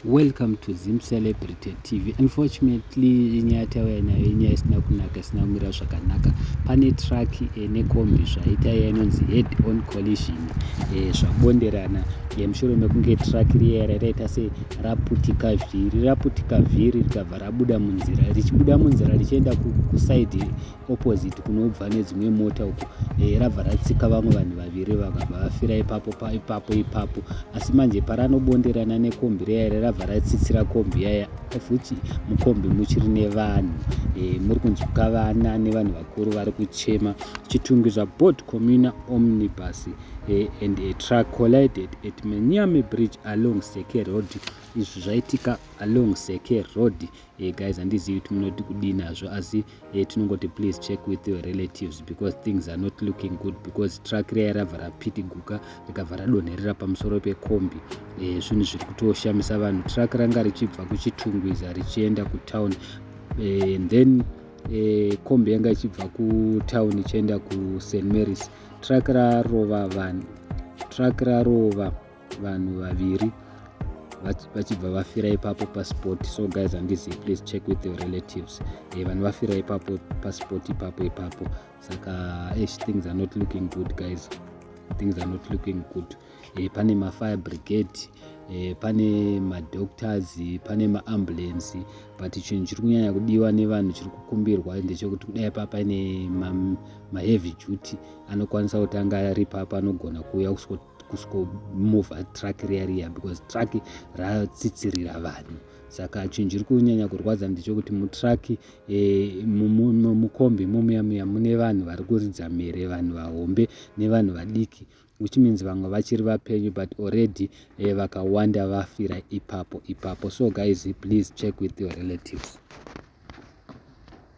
Welcome to Zim Celebrity TV. Unfortunately, inyaya yatauya nayo inyaya isina kunaka isina kumira zvakanaka. Pane truck eh, nekombi zvaita iya inonzi head on collision eh, zvabonderana eh, mushure mekunge truck riya rakaita se raputika vhiri raputika vhiri rikabva rabuda munzira richibuda munzira richienda kusaidi opposite kunobva nedzimwe mota uko e, rabva ratsika vamwe vanhu vaviri vakabva vafira ipapo pa, ipapo ipapo asi manje paranobonderana nekombi reyare rabva ratsitsira kombi yaya of which mukombi muchiri nevanhu e, muri kunzwika vana nevanhu vakuru vari kuchema chitungi zvabot communa omnibus e, and a truck collided at manyame bridge along seke road izvi zvaitika along seke road e, Hey guys handizivi kuti munoti kudii nazvo asi hey, tinongoti please check with your relatives because things are not looking good because truck riya rabva rapitiguka rikabva radonherera pamusoro pekombi hey, eh, zvinhu zviri kutoshamisa vanhu truck ranga richibva kuchitungwiza richienda kutown hey, eh, and then hey, kombi yanga ichibva kutown ichienda kust marys truck rarova vanhu truck rarova vanhu vaviri vachibva vafira ipapo paspot so guys handizi please check with your relatives e, vanhu vafira ipapo paspot ipapo ipapo saka esh things are not looking good guys things are not looking good e, pane mafire brigade e, pane madoctors pane maambulensi but chinhu chiri kunyanya kudiwa nevanhu chiri kukumbirwa ndechekuti kudai papa ine maheavy ma duty anokwanisa kutanga ari papa anogona kuuya kusiko kusvikomova truck riya riya because truck ratsitsirira vanhu saka chinhu chiri kunyanya kurwadza ndechokuti mutruck eh, mukombi mumuya muya mune vanhu vari kuridza mhere vanhu vahombe nevanhu vadiki which means vamwe vachiri vapenyu but already eh, vakawanda vafira ipapo ipapo so guys please check with your relatives